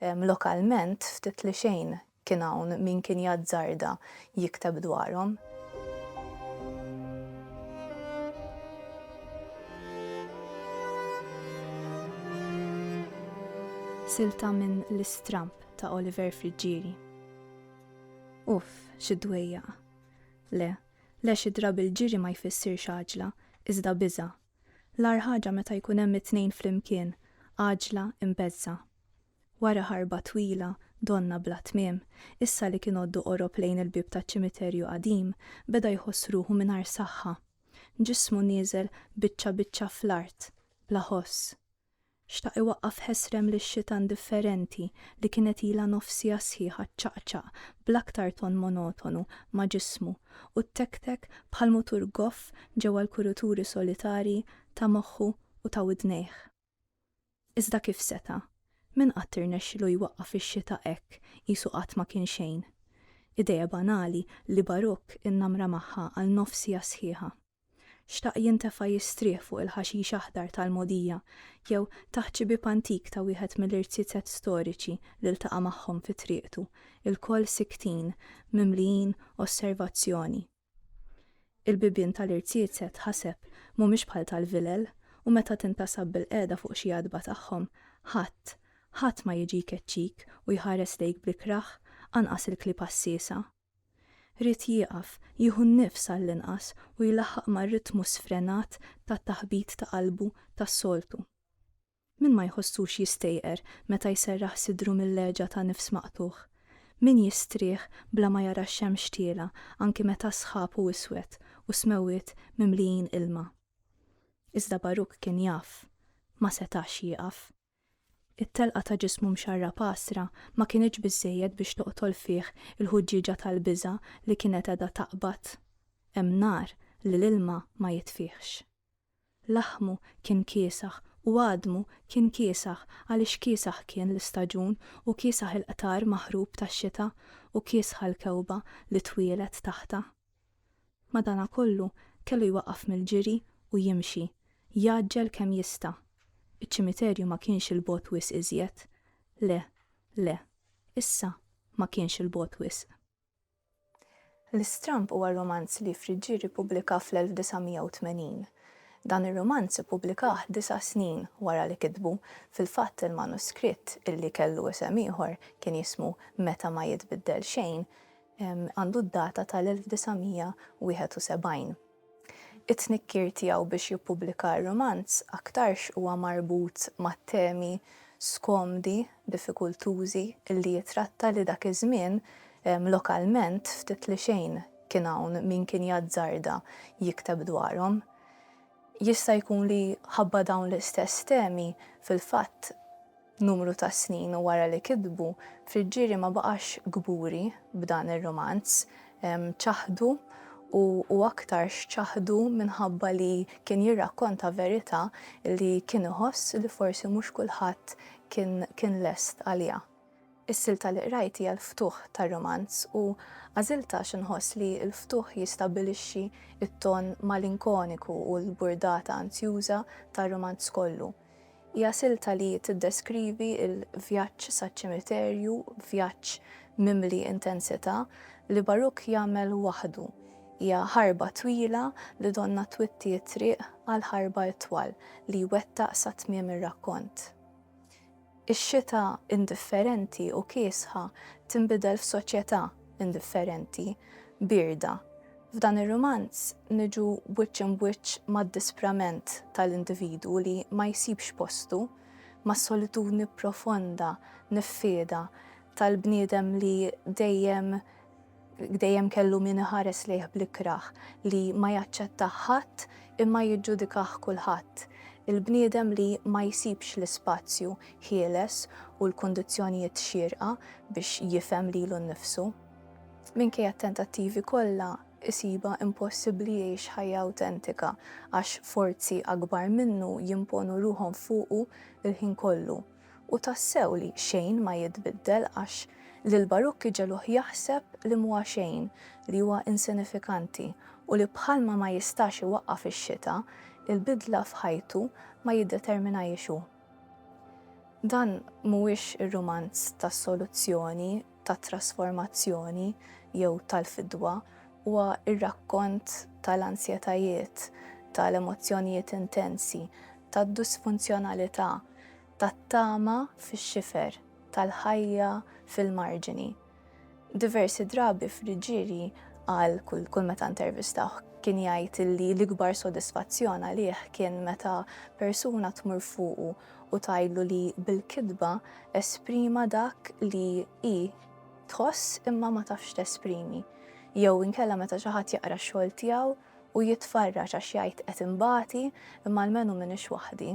Lokalment, ftit li xejn kien hawn min kien jazzarda jikteb dwarhom. Silta minn L-Istramb ta' Oliver Friggieri. Uff, xi dwejjaq! Le, le xi drabi l-ġiri ma jfissirx għaġla, iżda biża', L-agħar ħaġa meta jkun hemm it-tnejn flimkien, għaġla imbeżżgħa. Wara ħarba twila, donnha bla tmiem, issa li kien għoddu qorob lejn il-bieb taċ-ċimiterju qadim, beda jħoss ruħu mingħajr saħħa. Ġismu nieżel biċċa biċċa fl-art, bla ħoss. Xtaq iwaqqaf ħesrem lix-xita indifferenti li kienet ilha nofs siegħa sħiħa ċċaqċaq bl-aktar ton monotonu ma' ġismu u ttektek bħal mutur goff ġewwa l-kuruturi solitarji ta' moħħu u ta' widnejh. Iżda kif seta'? Min qatt irnexxilu jwaqqaf ix-xita hekk qisu qatt ma kien xejn? Ideja banali li Baruch innamra magħha għal nofs siegħa sħiħa. Xtaq jintefa' jistrieħ fuq il-ħaxix aħdar tal-mogħdija jew taħt xi bieb antik ta' wieħed mill-irziezet storiċi li ltaqa' magħhom fi triqtu, ilkoll siktin, mimlijin osservazzjoni. Il-bibien tal-irziezet, ħaseb, mhumiex bħal tal-vilel u meta tintasab bilqiegħda fuq xi għatba tagħhom, ħadd, ħadd ma jiġi jkeċċik u jħares lejk bl-ikrah, anqas il-klieb għassiesa. Ried jieqaf jieħu n-nifs għall-inqas u jlaħħaq mar-ritmu sfrenat ta' taħbit ta' qalbu tas-soltu. Min ma jħossux jistejqer meta jserraħ sidru mill-għeġa ta' nifs maqtugħ? Min jistrieħ bla ma jara x-xemx tiela' anki meta s-sħab hu iswed u s-smewwiet mimlijin ilma? Iżda Baruk kien jaf. Ma setax jieqaf. It-telqa ta' ġismu mxarrab għasra ma kinitx biżżejjed biex toqtol fih il-ħuġġieġa tal-biża' li kienet qiegħda taqbad. Hemm nar li l-ilma ma jitfihx. Laħmu kien kiesaħ u għadmu kien kiesaħ għaliex kiesaħ kien l-istaġun u kiesaħ il-qtar maħrub tax-xita u kiesħa l-kewba li twielet taħtha. Madanakollu, kellu jwaqqaf mill-ġiri u jimxi, jgħaġġel kemm jista'. Iċ-ċimiterju ma kienx 'il bogħod wisq iżjed. Le, le. Issa, ma kienx 'il bogħod wisq. L-Istramb huwa romanz li Friggieri ppubblika fl-1980. Dan ir-romanz ippubblikah disa' snin wara li kitbu, fil-fatt il-manuskritt, illi kellu isem ieħor, kien jismu Meta ma jitbiddel xejn, għandu d-data tal-1971. It-tnikkir tiegħu biex jippubblika r-rumanz aktarx huwa marbut mat-temi skomdi, diffikultużi li jitratta li dak iż-żmien, lokalment, ftit li xejn kien hawn min kien jazzarda jikteb dwarhom. Jista' jkun li ħabba dawn l-istess temi, fil-fatt, Numru ta' snin wara li kitbu, Friggieri ma baqax kburi b'dan ir-rumanz. Ċaħdu u u aktarx ċaħdu minħabba li kien jirrakkonta verità li kien iħoss li forsi mhux kulħadd kien kien lest għaliha. Is-silta li qrajt hija l-ftuħ tar-rumanz u għażiltha għax inħoss li l-ftuħ jistabbilixxi t-ton malinkoniku u l-burdata anzjuża tar-rumanz kollu. Hija silta li tiddeskrivi l-vjaġġ saċ-ċimiterju, vjaġġ mimli intensità, li Baruch jagħmel waħdu. Hija ħarba twila li donnha twitti t-triq għal ħarba itwal li jwettaq sa tmiem ir-rakkont. Ix-xita indifferenti u kiesħa tinbidel f'soċjetà indifferenti, bierda. F'dan ir-rumanz niġu wiċċ imb'wiċċ mad-disprament tal-individwu li ma jsibx postu, mas-solitudni profonda, niffieda, tal-bniedem li dejjem Dejjem kellu min iħares lejh bl-ikrah, li ma jaċċettah ħadd imma jiġġudikah kulħadd. Il-bniedem li ma jsibx l-ispazju ħieles u l-kundizzjonijiet xierqa biex jifhem lilu nnifsu. Minkejja t-tentattivi kollha, isibha impossibbli jgħix ħajja awtentika għax forzi akbar minnu jimponu ruħhom fuqu l-ħin kollu. U tassew li xejn ma jitbiddel għax lil Barukk iġegħluh jaħseb li m'huwa xejn, li huwa insinifikanti u li bħalma ma jistax iwaqqaf ix-xita, il-bidla f'ħajtu ma jiddeterminahiex hu. Dan mhuwiex ir-rumanz tas-soluzzjoni tat-trasformazzjoni jew tal-fidwa huwa r-rakkont tal-ansjetajiet, tal-emozzjonijiet intensi, tad-disfunzjonalità, tat-tama fix-xifer, tal-ħajja fil-marġini. Diversi drabi Friggieri qal, kull meta intervistawh, kien jgħid li l-ikbar sodisfazzjon għalih kien meta persuna tmur fuqu u tgħidlu li bil-kitba esprima dak li hi tħoss imma ma tafx tesprimi, jew inkella meta xi ħadd jaqra x-xogħol tiegħu u jitfarraġ għax jgħid qed inbati imma almenu m'iniex waħdi.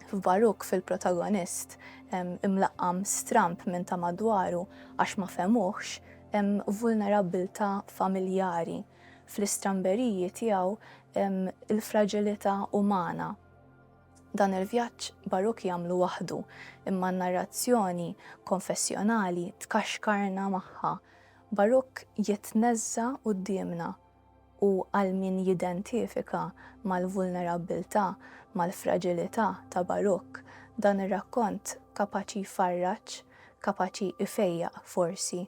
F'Baruc fil-protagonist imlaqqam stramb minn ta' madwaru għax ma fehmuhx hemm vulnerabbiltà familjari, fl-istramberiji tiegħu hemm il-fraġilità umana. Dan il-vjaġġ Baruc jagħmlu waħdu, imma n-narrazzjoni konfessjonali tkaxkarna magħha. Baruc jitneżża' quddiemna u għal min jidentifika mal-vulnerabbiltà, mal-fraġilità ta' Baruc, dan ir-rakkont kapaċi jfarraġ, kapaċi jfejjaq forsi.